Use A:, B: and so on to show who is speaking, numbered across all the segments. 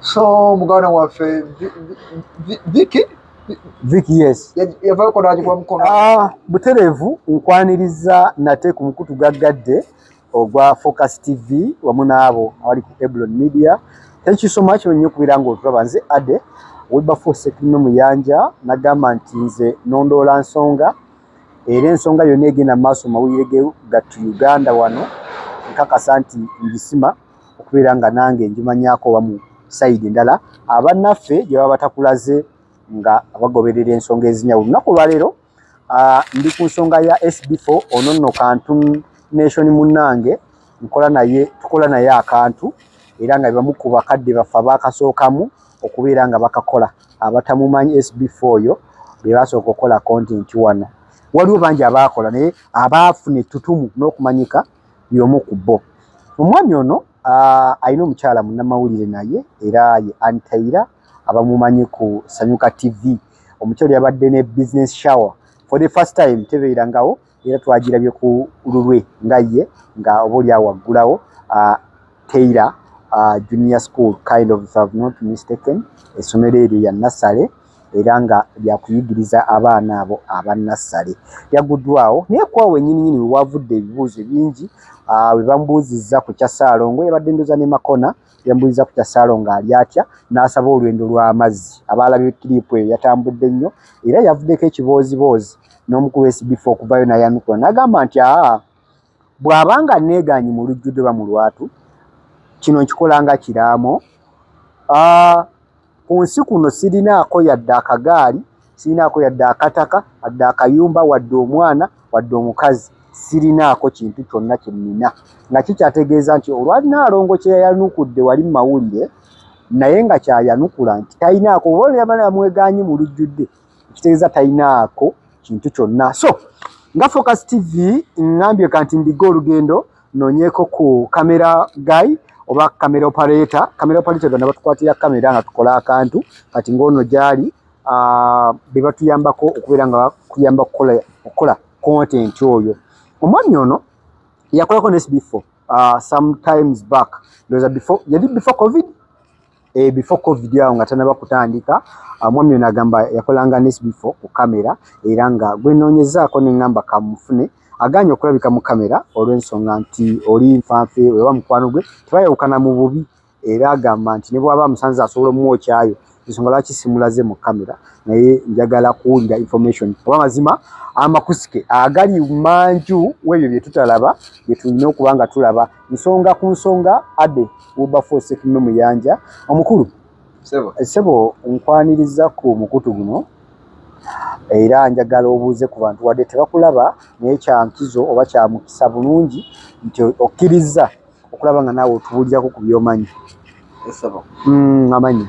A: so muganda waffe viki
B: viki yes yavayoko nagikuba
A: mukono ah, buterevu
B: nkwaniriza nate ku mukutu gaggadde ogwa focus tv wamu naabo abali ku eblon media thank you so much wenyo okubira nga otulaba nze ade wilberforce ekulino muyanja nagamba nti nze nondoola nsonga era ensonga yonna egenda mu maaso mawulire ge gattu uganda wano nkakasa nti ngisima okubeera nga nange ngimanyaako oba mu sayidi endala abannaffe gye baba batakulaze nga abagoberera ensonga ezinyawulo lunaku olwaleero ah, ndi ku nsonga ya sbfo ono nno kantu nation munnange nkola naye tukola naye akantu era nga bebamu ku bakadde baffe abaakasookamu okubeera nga bakakola abatamumanyi sbfo oyo be basooka okukola kontenti wano waliwo bangi abaakola naye abaafuna ettutumu n'okumanyika y'omu ku bo. Omwami ono alina omukyala munnamawulire naye era ye Ann Taylor abamumanyi ku Sanyuka TV. Omukyala yabadde ne business shower for the first time tebeerangawo era twagirabye ku lulwe nga ye nga oba oli awaggulawo Taylor junior school kind of if have not mistaken essomero eryo ya Nassale. era nga lya kuyigiriza abaana abo aba nassale yaguddwawo naye kwawo wenyini nyini wewavudde ebibuuzo bingi webamubuuzizza ku kya ssaalongo yabadde ndoza ne makona yamubuuzizza ku kya ssaalongo ali atya n'asaba olwendo lw'amazzi abaalabye kiriipu eyo yatambudde nnyo era yavuddeko ekibooziboozi n'omukulu w'esbifa okuvayo nayanukula n'agamba nti aa bw'aba nga neegaanyi mu lujjudde oba mu lwatu kino nkikolanga kiraamo ku nsi kuno sirinaako yadde akagaali sirinaako yadde akataka adde akayumba wadde omwana wadde omukazi sirinaako kintu kyonna kye nnina nga kikyategeeza nti olwanaalongo kye yayanukudde wali mu mawulire naye nga kyayanukula nti talinaako oba olyamanamwegaanyi mu lujjudde ekitegeeza talinaako kintu kyonna so nga focus tv ngambye kanti mbiga olugendo nonyeko ku kamera guy oba kamera operator kamera operator gana batukwatira kamera nga tukola akantu kati ngaono gyali ah, bebatuyambako okubeera nga kuyamba okukola content oyo omwami ono yakolako nesbefore ah, sometimes back ndoza before yali before covid e before covid awo nga tanaba kutandika ah, omwami ono agamba yakolanga nes before ku kamera era nga gwenoonyezaako ne ngamba kamufune aganye okulabika mu kamera olw'ensonga nti oli nfanfe oba mukwano gwe tebayawukana mu bubi era agamba nti ne bwaba amusanze asobola omumwokyayo ensonga lwaki simulaze mu kamera naye njagala kuwulira information oba mazima amakusike agali manju w'ebyo bye tutalaba bye tulina okuba nga tulaba nsonga ku nsonga ade wobafosekume muyanja omukulu sebo eh, nkwaniriza ku mukutu guno era njagala obuuze ku bantu wadde tebakulaba naye kyankizo oba kyamukisa bulungi nti okkirizza okulaba nga naawe otubuulirako ku byomanyi eh, hmm, amanya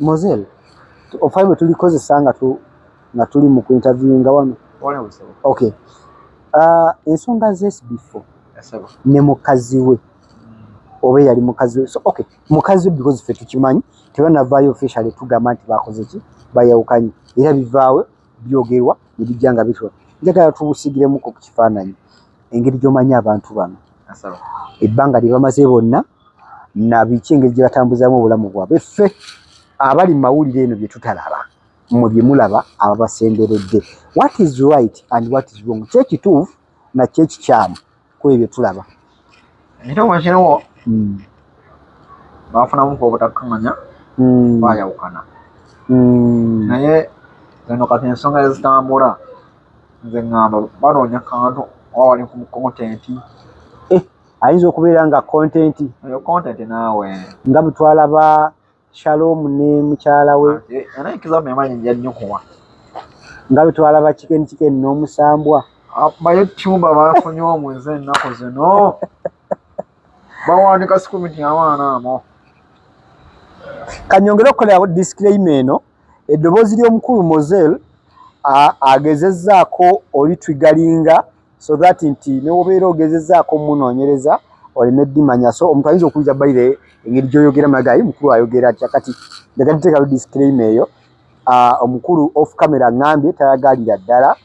B: Mozel, ofai bwe tulikozesa nga tu nga tuli mu kuinterviewinga wano okay uh, ensonga zesbifo ne
A: mukazi
B: we oba eyali mukazi we so okay mukazi we because fe tukimanyi tebanavaayo officially tugamba nti bakoze ki bayawukanye era bivaawo byogerwa nebijja nga bitwa njagala tubusigiremuko ku kifaananyi engeri gyomanyi abantu bano ebbanga lye bamaze bonna nabiki engeri gye batambuzaamu obulamu bwabwe ffe abali mu mawulire eno bye tutalaba mwe bye mulaba ababasemberedde what is right and what is wrong kyo ekituufu nakyo ekikyamu kuba ebyo tulaba ekituufu
A: kiriwo hmm. bafunamu ku obutatumanya hmm. bayawukana hmm. naye eno kati ensonga ezitambula nze ŋŋamba banoonya kantu oba wali ku mukontenti
B: ayinza okubeera nga content eyo content
A: naawe nga butwala
B: ba shalom ne mukyala we anayikizamu yamanyi
A: njanyukuwa nga
B: butwala ba chicken chicken n'omusambwa ah, bayo tyuba
A: bafunye omu nze ennaku zino bawandika sikumi nti abaana amo
B: kanyongere okukolerawo disclaim eno eddoboozi ly'omukulu mosel agezezaako olitwigalinga so that nti newobeera ogezezaako munoonyereza oleme dimanya so omuntu ayinza okuwuliza baire engeri gyoyogera magayi mukulu ayogera atya kati njaga tuteekayo disclaim eyo ah, omukulu off camera ngambye tayagalira ddala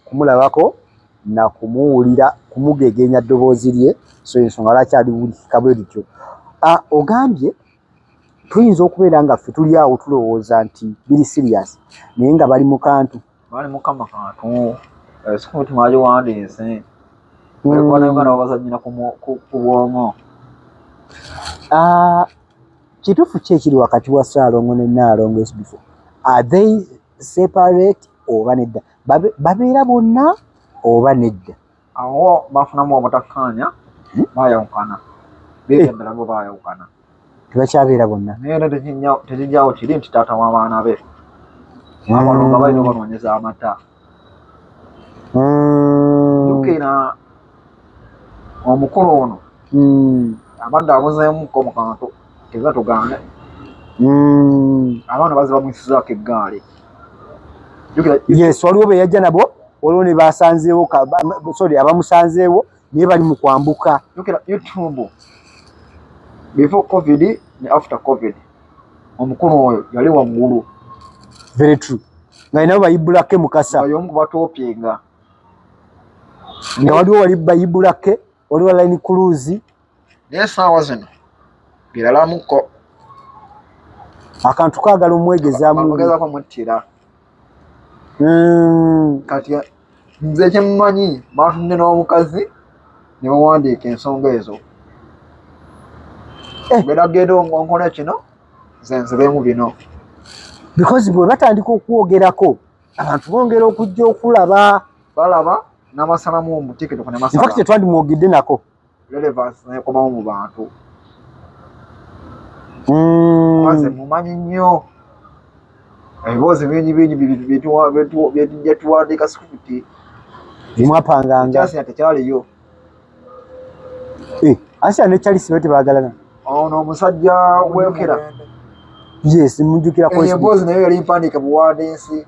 B: kumulabako na kumuwulira kumugegenya ddoboozi lye so ensonga lwaki aliwulikika bwe lityo ah, ogambye tuyinza okubeera nga ffe tuli awo tulowooza nti biri sirias naye nga bali mu kantu Bali mukama
A: kantu eh, sikuti mwaje wandiise ekwana yogana wabazanyira ku bwongo ah,
B: kituufu ki ekiri wakati wa saalongo ne naalongo esbifo are they separate oba nedda babeera bonna oba nedda awo bafunamu
A: obutakkaanya hmm? baayawukana beegendera eh. bo baayawukana tebakyabeera
B: bonna naye era
A: tekijjawo kiri nti taata w'abaana be hmm. abalonga balina obanoonyeza amata hmm. jukira omukulu ono abadde abuzeemuko mu kantu Teba tugana. Mm. Abana bazi bamusiza ke gale. Yes,
B: waliwo be yajja nabo, waliwo ne basanzeewo ka sorry abamusanzeewo ne bali mu kwambuka. Yokera YouTube.
A: Before COVID ne after COVID. Omukulu oyo yali wa mulu. Very
B: true. Nga inabo bayibula ke mukasa. Bayo mku batopinga. Nga waliwo wali bayibula ke, waliwo line cruise. naye saawa
A: zino biralamuko
B: akantu kagala omwegezamugezaako muttira
A: hmm. kati nze kyemumanyi batunde n'omukazi ne bawandiika ensonga ezo eh. beragenda onkola kino zenzibemu bino because
B: bwe batandika okwogerako abantu bongera okujja okulaba balaba
A: namasalamu omutiketwandimwogedde nako
B: relevance
A: nekomawo mu bantu maze mm. mumanyi nnyo ebiboozi bingi bingi byetujja tuwandiika sikuti
B: mwapangangaasia tekyaliyo eh, asia ne charles be tebagalana ono omusajja
A: wekera
B: yes mujukira emboozi naye yali mpandiike
A: buwandiisi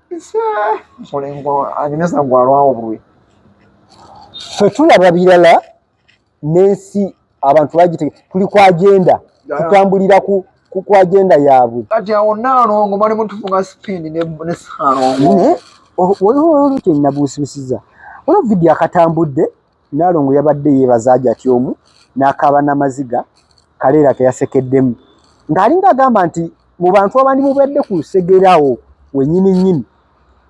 B: ffe tulaba birala n'ensi abantu bagitege tuli ku agenda tutambulira ku ku agenda yaabwe kati awo naalongo
A: bali mutufunga sipindi ne saalongo waliwo
B: olute nabuusibusiza olwo vidiyo akatambudde Nnaalongo yabadde yeebaza Hajati omu n'akaaba n'amaziga, Kaleera ke yasekeddemu ng'alinga agamba nti mu bantu abandimubadde ku lusegere awo wennyininyini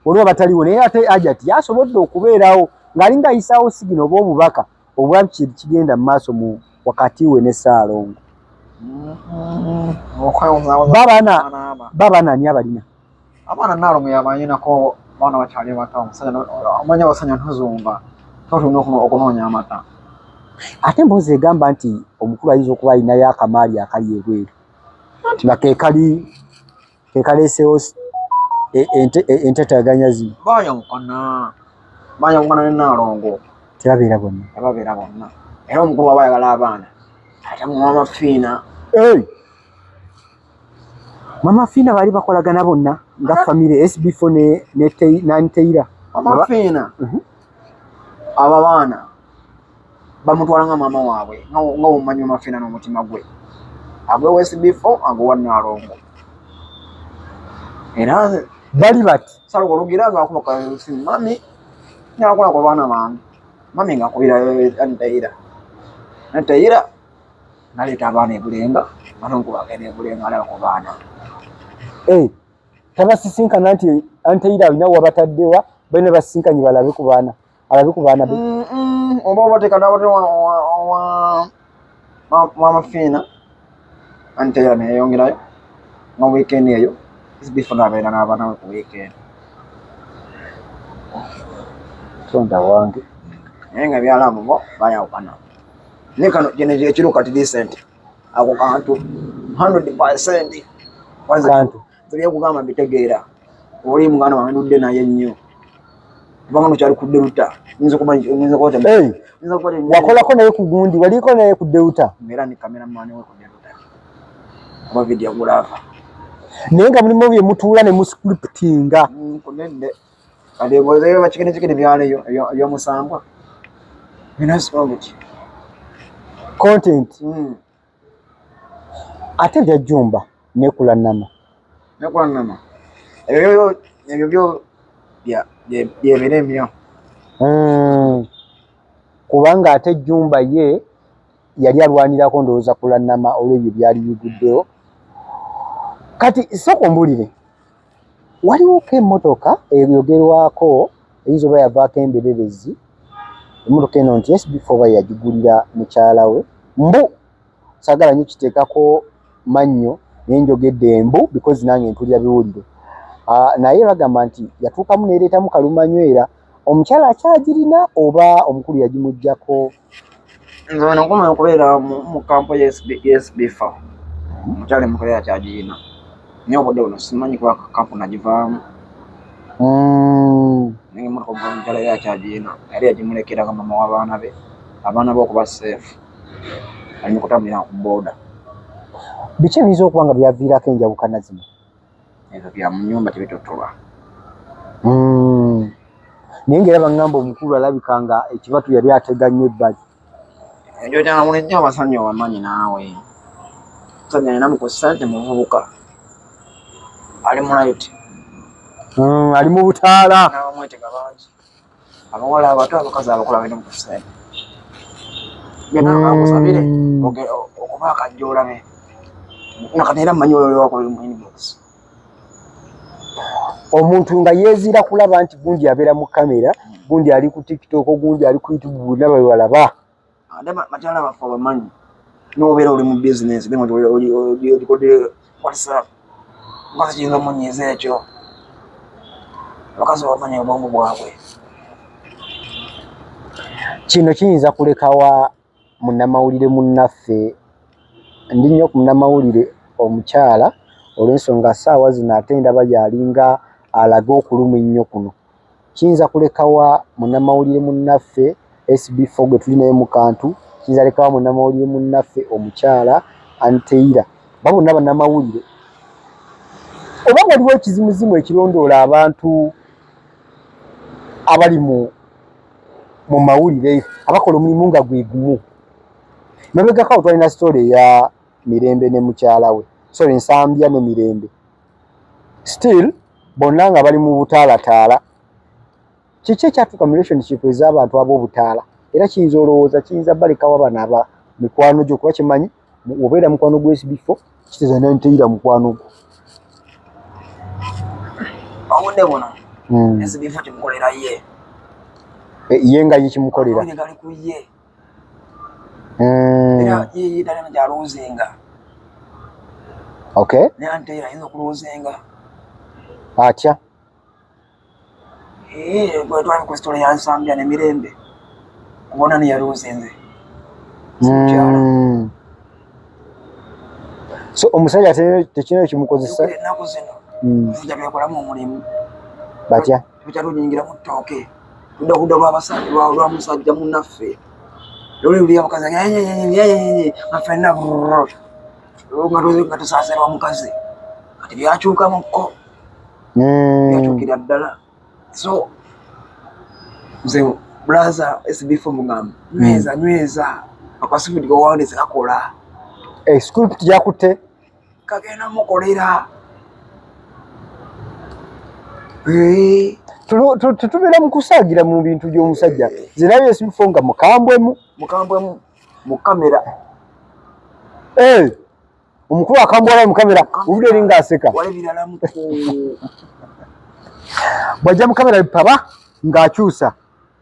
B: waliwo abataliwo naye ate Hajati yasobodde okubeerawo ng'alinga ayisaawo sigino oba obubaka obwa biki ebikigenda mu maaso mu wakati we ne Ssaalongo. Babaana ani abalina? abaana naalongo
A: yabanyinako abaana bakyali bato omanya abasajja ntuzumba totunda okunoonya amata ate
B: emboozi egamba nti omukulu ayinza okuba alinayo akamaali akali ebweru nti nga kekali kekaleesewo e, e, entataganya zino bayawukana
A: bayawukana ne naalongo tebabeera bonna
B: tebabeera bonna era
A: omukulu waba ayagala abaana ate muwamafiina
B: Mama Fina bali bakolagana bonna nga family SB4 ne ne tei nani teira. Mama Fina. Mhm.
A: Mm Aba bana bamutwala nga mama waabwe nga nga omanyi Mama Fina no mutima gwe. Agwe wa SB4 agwe wa Nalongo. Era bali bat
B: sala kologira nga akuba
A: kwa simu mami nyakola kwa bana mami. Mami nga kubira eh, eh, ani teira. Ani teira. naleeta abaana ebulenga manonku bagenda ebulenga alaba ku baana eh,
B: tabasisinkana nti anteira alina wabataddewa balina basisinkanye balabe ku baana alabe ku baana be mm, mm, oba
A: obateka nabate wamafiina anteira neyeyongerayo nga weekend eyo bifuna abeera n'abaana we ku weekend
B: tonda wange naye nga
A: byalamu bo bayawukana ne kano kino ekiro kati decent ako kantu 100% kantu
B: ebyokugamba
A: mbitegeera oli muganda wange ndudde naye nnyo kubanga nokyali ku deruta
B: wakolako naye ku gundi waliko naye ku deruta era ni kameramani
A: we ku deruta kuba vidiyo gulaava naye
B: nga mulimu bye mutuula ne muscriptinga mm,
A: kati ebuuzeyo bakikinikikini byalo eyomusambwa binasibongeki
B: content hmm. ate byajjumba nekula nama nekula nama ebyo
A: ebyo byo byebiremyo hmm.
B: kubanga ate jjumba ye yali alwanirako ndowooza kula nama olwebyo byali biguddewo kati soka ombulire waliwoko emmotoka eyogerwako eyinza oba yavaako emberebezi emmotoka eno nti sbf oba yagigulira mukyala we mbu sagala nyo kiteekako mannyo naye njogedde embu because nange mpulira biwuliro ah, naye bagamba nti yatuukamu neereetamu kalumanywera omukyala akyagirina oba omukulu yagimugjako nze
A: wano nkoma okubeera mu kampo yesbifa mukyali mukolera kyagirina naye obudde buno simanyi kuba kampo nagivaamu mm. naye emotoka omukazi mukyala era kyagirina yali yagimulekeranga mama w'abaana be abaana be okuba seefu ali mukutambulira ku booda
B: biki ebiyinza okuba nga byaviirako enjawukana zino ebyo bya
A: mu nyumba tebitotoba hmm.
B: naye nga era bangamba omukulu alabika nga ekibatu yali atega nnyo ebbali ekyo
A: kyamulijja abasajja wamanyi naawe musajja alina mukusante muvubuka ali mulayiti hmm,
B: ali mu butaala
A: abawala abato abakazi abakola bino mukusente byonna bakusabire mm. okuba akajja olabe nakati era mmanyi oyo wakola mu inbox
B: omuntu nga yeezira kulaba nti gundi abeera mu kamera gundi ali ku tiktok gundi ali ku youtube bulina bebalaba Adama
A: matala bafa bamanyi nobeera oli mu bizinensi ogikodde whatsapp mukazi kiyinza omunyiiza ekyo abakazi bamanyi obwongo bwabwe
B: kino kiyinza kulekawa munnamawulire munnaffe ndi nnyo ku munnamawulire omukyala olw'ensonga saawa zino ate ndaba yalinga alaga okulumu ennyo kuno Kiyinza kulekawa munnamawulire munnaffe SB4 gwe tuli naye mu kantu, kiyinza lekawa munnamawulire munnaffe omukyala Anteira oba bonna bannamawulire oba waliwo ekizimuzimu ekirondoola abantu abali mu mu mawulire abakola omulimu nga gwe gumu. Mabegako awo twalina sitole eya Mirembe ne mukyala we, sorry Nsambya ne Mirembe. still bonna nga bali mu butaalataala kiki ekyatuuka mu relationship ez'abantu ab'obutaala era kiyinza olowooza kiyinza balekawo abana aba mikwano gyo kuba kimanyi obeera mukwano gwesibifo kiteeza nanteyira mukwano gwo
A: obudde buno hmm. ezibifo kimukolera ye eh,
B: ye nga ye kimukolera
A: mm. era yeye talina gyalowoozenga
B: okay naye ante era ayinza
A: okulowoozenga
B: atya
A: eh, bwetwali ku sitola ya nsambya ne mirembe kubona neyalowoozenze mukyala mm.
B: so omusajja tekirina ekimukozesa ennaku zino
A: nzija mm. byekolamu omulimu batya
B: Tukyali tunyingira mu
A: ttooke ludahuda lwabasajja lwa musajja munaffe luli luli abakazi nga fenna nga tusaasira omukazi kati byakyukamukko hmm. byakyukira ddala so nze bulaza sbfo mugamba hmm. nyweza nyweza akwasibidi gowawandisi kakola eh, school
B: tujakutte
A: kagenda
B: mukolera eh. tetubeera mukusaagira mu bintu by'omusajja zirabye esibifo nga
A: mukambwemu
B: mukambwemu mu kamera eh, omukulu akambwalayo mu kamera obude eri ngaaseka bwajja mu kamera bipaba ng'akyusa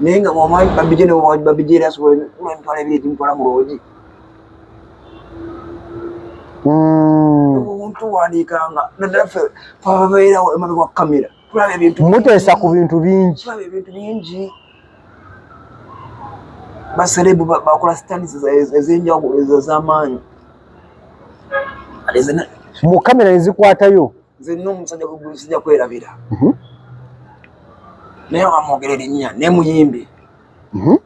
A: naye nga wamanyi babije babije era asobola kula emitwalo ebiri egimutwala mu loogi hmm. omuntu wandiikanga naddala ffe fababeerawo emabe wa kamera tulaba ebintu muteesa ku bintu
B: bingi tulaba ebintu bingi
A: baserebu bakola stands ezenjawulo ezamaanyi
B: mu kamera nezikwatayo nze nno omusajja
A: gwegusija kwerabira mhm. naye wamwogera erinnya naye muyimbi mhm.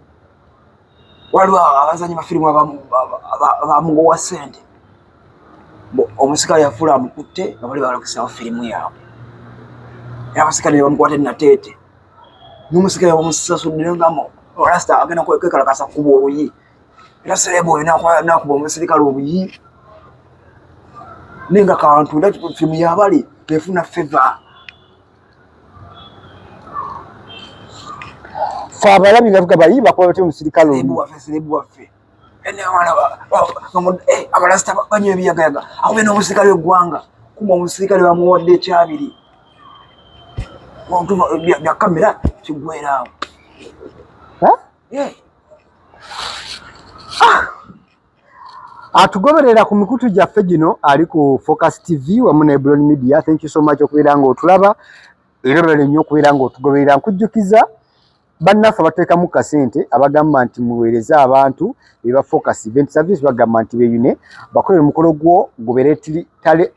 A: waliwo abazanyi bafirimu abamugowa sente omusika yafuula amukutte nga bali balokesawo firimu yaabwe era abasika ne bamukwata enateete n'omusika yabamusasudde ngamo olasita agenda kwekalakasa kuba oluyi naserebu oyo nakuba omusirikale obuyi naye nga kantu era fimu yabale tefuna feva
B: fe abalabi nga tuga bayi bakuba batya omusirikale obuyiwaffe
A: eh, abalasita banyo ebiyagayaga akube n'omusirikale w'eggwanga kuma omusirikale bamuwadde ekyabiri bya kamera kigweraawo
B: Eh. Ah. Atugoberera ku mikutu gyaffe gino ali ku Focus TV wamu ne Blon Media. Thank you so much okubeera nga otulaba era olwale nnyo okubeera nga otugoberera. Nkujjukiza bannaffe abateekamu kasente abagamba nti muweereze abantu eba Focus Event Service bagamba nti beyune bakolere omukolo gwo gubeere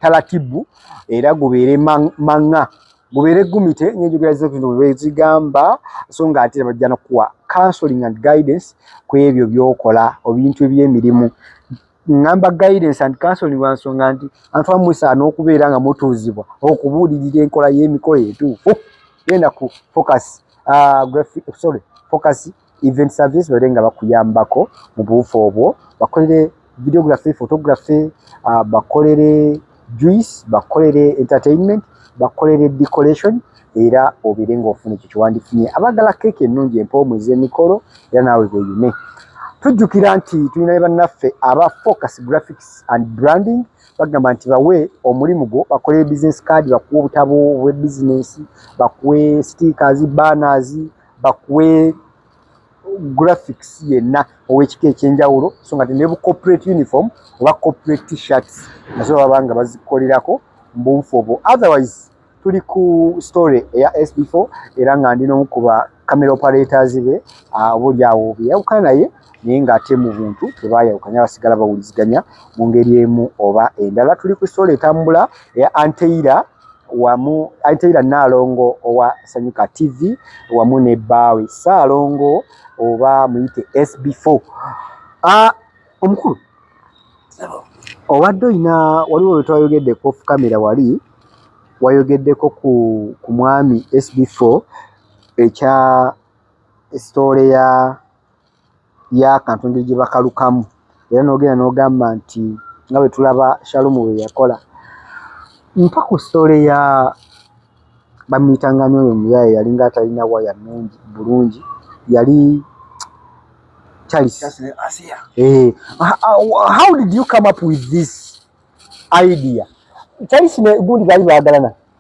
B: talatibu era gubeere mang'a mubeere gumite ngenjogera zino bwezigamba so nga ate bajja nokuwa counseling and guidance ku ebyo byokola obintu ebyemirimu ngamba guidance and counseling wansonga nti antu amusaana okubeera nga mutuuzibwa okubuulirira enkola y'emikolo etuufu genda ku focus uh, sorry focus event service bale nga bakuyambako mu buufu obwo bakolere videography photography uh, bakolere juice bakolere entertainment bakolere decoration era obere nga ofuna ekyo kyewandifunye abagala keeki ennungi empoomu ez'emikolo era naawe bweyune tujjukira nti tulina ne bannaffe aba focus graphics and branding bagamba nti bawe omulimu gwo bakolere business card bakuwe obutabo obwe bizinesi bakuwe stickers banners bakuwe graphics yenna owekika ekyenjawulo so nga tine corporate uniform oba corporate t-shirts nazo baba nga bazikolerako mubunfu obwo otherwise tuli ku story eya sb4 era nga ndi nomu kuba camera operators be obuli awo byeyawukana naye naye ng'ate mu buntu tebaayawukanya basigala bawuliziganya mu ngeri emu oba endala tuli ku soola etambula eya anteira wamu anteira nnaalongo owa sanyuka tv wamu ne bbaawe ssaalongo oba muyite sb4 ah, omukulu obadde olina waliwo wetwayogedde ku ofkamera wali wayogeddeko ku ku mwami sb4 ekya sitoole ya y'akantu engeri gye bakalukamu era n'ogenda n'ogamba nti nga bwe tulaba Shalumu bwe yakola. Mpa ku story ya bamuyitanga ani oyo omuyaye yalinga atalina waya nnungi bulungi yali Charles.
A: Eh,
B: how did you come up with this idea? Charles ne gundi baali baagalana.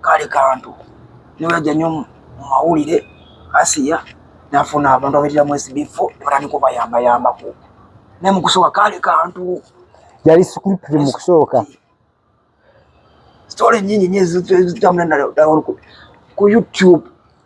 A: kale kantu niweja nyo mu mawulire asiya nafuna abantu abetera mu SB4 nebatandika obayambayambako naye mu kusooka kale kantu yali
B: scripti mu kusooka
A: sitole nyingi nyo ezitambula ku YouTube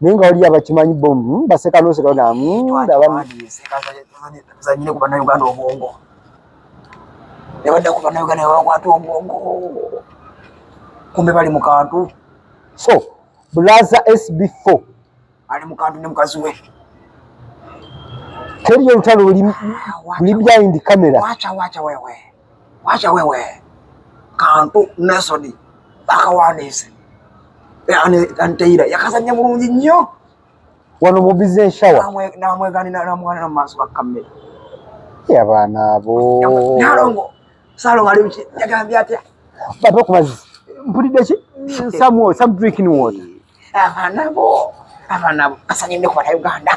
B: naye nga waliyo abakimanyi bo hmm, baseka noseka nabazanyire
A: ku banauganda obwongo nebadda ku banauganda nebakwata obwongo kumbe bali mu kantu so
B: bulaza sb4 ali mu kantu
A: ne mukazi we
B: teriyo olutalo luli behind camera wacha wacha wewe
A: Wacha wewe kantu nesoni bakawandiise anteira yakazanya bulungi nnyo wano mu
B: bize enshawa namweganira namwanira
A: mu maaso gakamera abaana
B: abo nalongo
A: salongo ali ki yagambye atya baba ku mazzi
B: mpulidde ki some water some drinking water abaana bo
A: abaana bo asanyinde kubata uganda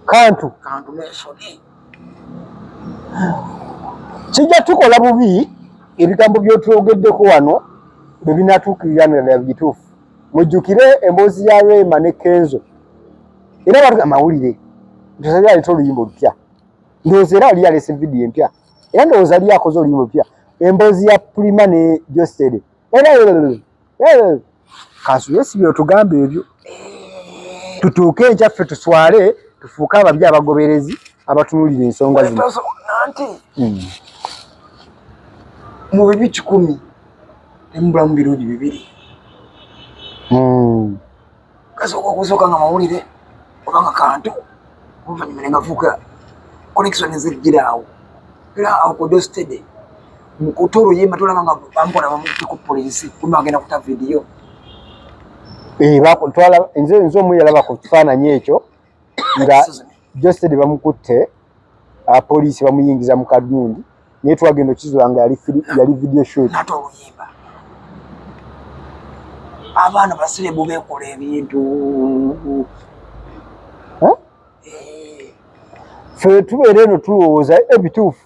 B: kantu kijja tukola bubi ebigambo byotwogeddeko wano bwe binatuukirira nalala bituufu mujjukire emboozi ya rema ne kenzo era batu amawulire ntosali aleta oluyimba olupya ndowooza era ali yalese vidiyo empya era ndowooza ali akoze oluyimba olupya emboozi ya prima ne jostede era Eh, Kansu yesi byotugamba ebyo tutuuke enkya ffe tuswale tufuuke ababi abagoberezi abatunulira ensonga zino hmm.
A: mu bibi kikumi temubulamu birungi bibiri hmm. kasooka okusooka nga mawulire obanga kantu oluvannyuma ne gafuuka connection ezijjira awo era awo kudostede mukutu oluyimba tulaba nga bamukola bamutte ku poliisi kumba agenda kuta vidiyo eh,
B: nze omu yalaba ku kifaananyi ekyo nga josted bamukutte apoliisi bamuyingiza mu kadundi naye twagenda okizula nga yali video shot
A: abaana basirebu bekola
B: ebintu fe tubeera eno tulowooza ebituufu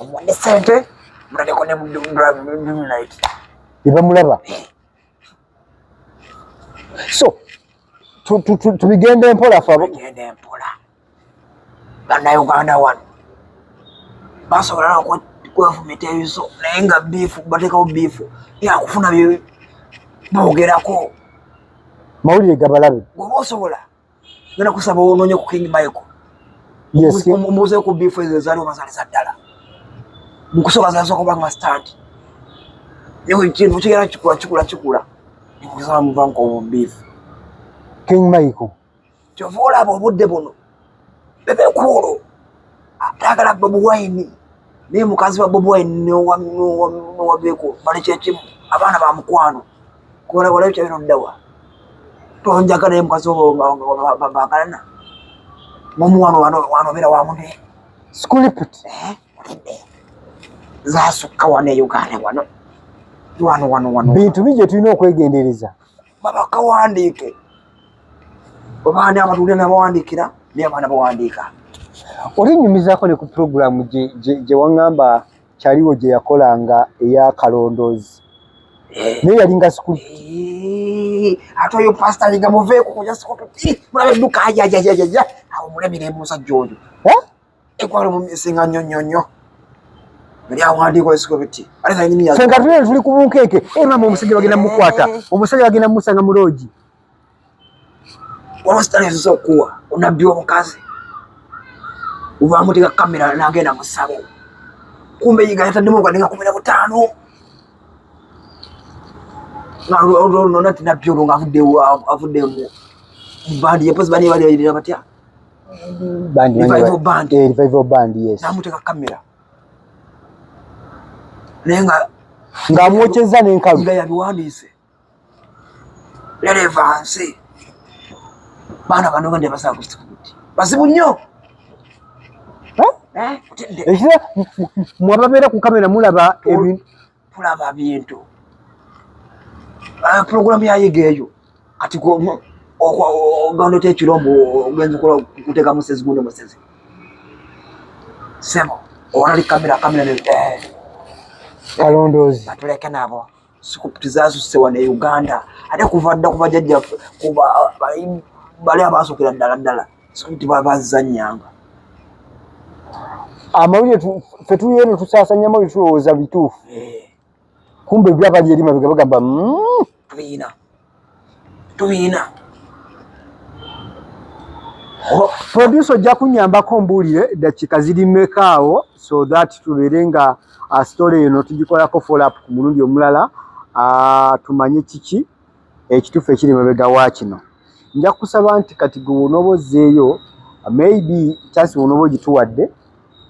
B: omuwadde
A: sente mutaleko ne mudumnit ebamulaba
B: so tubigende mpola fabigende mpola
A: banauganda wano basobola kwefumita ebiso naye nga biifu batekawo biifu yakufuna byogerako
B: mawulire gabalabe goba osobola
A: Ngena kusaba ononye ku King Michael. Yes. Omuze ku bifu ezo zali obazali za ddala. Mukusoba za soko banga stand. Yewe kintu kigera kikula kikula kikula. Nikusaba muvanko obu bifu. King
B: Michael. Chovola abo
A: budde bono. Bebe kuolo. Atagala babu wine. Ni mukazi wa babu wine ni wa ni wa ni wa beko. Bali chechimu. Abana ba mkwano. kola kola ekyo bino ddawa tonjagala ye mukazi obo babagalana mumu wano wano wano beera wamune skuliput
B: eh?
A: zasukka wano e uganda wano wano wano wano bintu bigye
B: tulina okwegendereza babakawandiike
A: obaani abatulire nabawandiikira naye abaana bawandiika
B: oli nyumizako ne ku
A: puroguramu
B: gye
A: waŋŋamba
B: kyaliwo gye yakolanga eya kalondoozi naye yalinga sikulu ate oyo pasita
A: nga muveeko kuyasikototimulabe duka ajajajajaja awo mulemire musajja oyo ekwalo mumisinga nnyo nnyo nnyo senga tuli tuli ku bunkeeke
B: emama eh, omusajja bagenda mukwata eh. omusajja bagenda musanga muloogi waba
A: sitalinziza okuwa onabbi omukazi ubamuteka kamera nagenda musabo kumbe yiga yataddemu nga ninga kumira butaano nona ti nabbi olwo nga avudde avudde mu bandi yepozi bani balirira batya
B: namuteka kamera
A: naye nga
B: ng'amwokyezza n'enkalu nga yabiwandiise
A: lerevanse baana bano bende basaba kusikuti bazibu nnyo
B: eh? ekira mwababeera ku kamera mulaba tulaba bintu
A: ah, pulogulamu yayiga eyo kati ogenda otya ekirombo ogenza okola kuteeka musezi gundi musezi sebo owalali kamera kamera eh.
B: kalondoozi batuleke nabo
A: sikuputi zasuse wano e uganda ate kuva dda kuva jajja kuba bali abaasokera ddala ddala sikuputi babazanyanga
B: amawulire fe tuliyo ne tusasanya amawulire tulowooza bituufu eh. kumbe byabali eri mabega bagamba mm. tulina
A: tubiyina
B: producer ojja kunyambako mbuulire eddakiika ziri mekaawo so that tubeere nga uh, story eno tugikolako follow up ku mulundi omulala uh, tumanye kiki ekituufu ekiri mabega wa kino nja kusaba nti kati gwe wonoba ozzeeyo maybe chance wonoba ogituwadde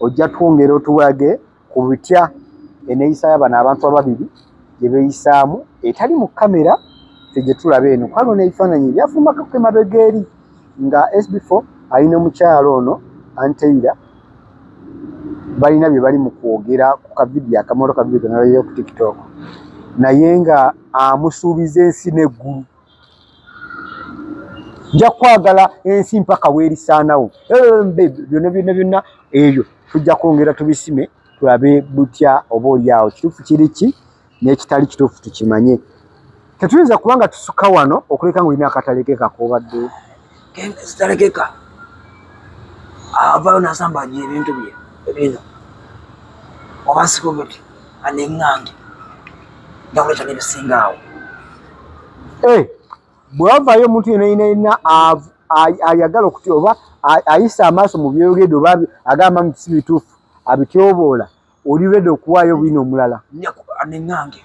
B: ojja twongera otuwage ku bitya eneeyisa ya bano abantu ababiri gye beeyisaamu etali mu kamera fe gye tulaba eno kwalo n'ebifaananyi ebyafumakako emabega eri nga sb4 ali n'omukyalo ono anteira balina bye bali mu kwogera ku kavidiyo akamoto kavidiyo kenalayo ku tiktok naye nga amusuubiza ensi n'eggulu nja kwagala ensi mpaka weerisaanawo byonna byonna byonna ebyo tujja kwongera tubisime tulabe butya oba olyawo kituufu kiri ki n'ekitali kituufu tukimanye tetuyinza kuba nga tusuka wano okuleka nga olina akatale ke kakoobadde zitalekeka
A: avayo nasamba nyo ebintu bye ebino oba sikobeti aneng'ange ndakuleta nebisinga awo eh,
B: bwavayo omuntu yena yina yina ayagala okuty oba ayisa amaaso mu byoyogedde oba agamba nti si bituufu abityoboola oli redi okuwaayo bwino omulala aneng'ange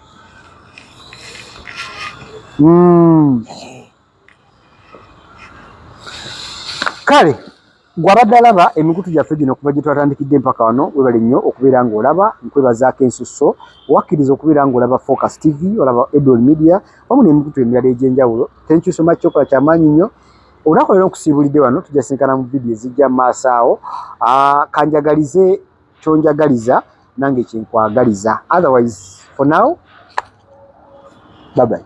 A: hmm. eh.
B: kale gwabadde alaba emikutu gyaffe gino okuva gyetwatandikidde empaka wano webale nnyo okubeera ngaolaba nkwebazaako ensusso wakkiriza okubeera ngaolaba focus tv olaba edol media wamu nemikutu emirala egyenjawulo tenkyuso maki kyokola kyamaanyi nnyo olunakuleero nkusiibulidde wano tujasinkana mu vidiyo ezijja maaso awo ah, kanjagalize kyonjagaliza nange kyenkwagaliza otherwise for now babayi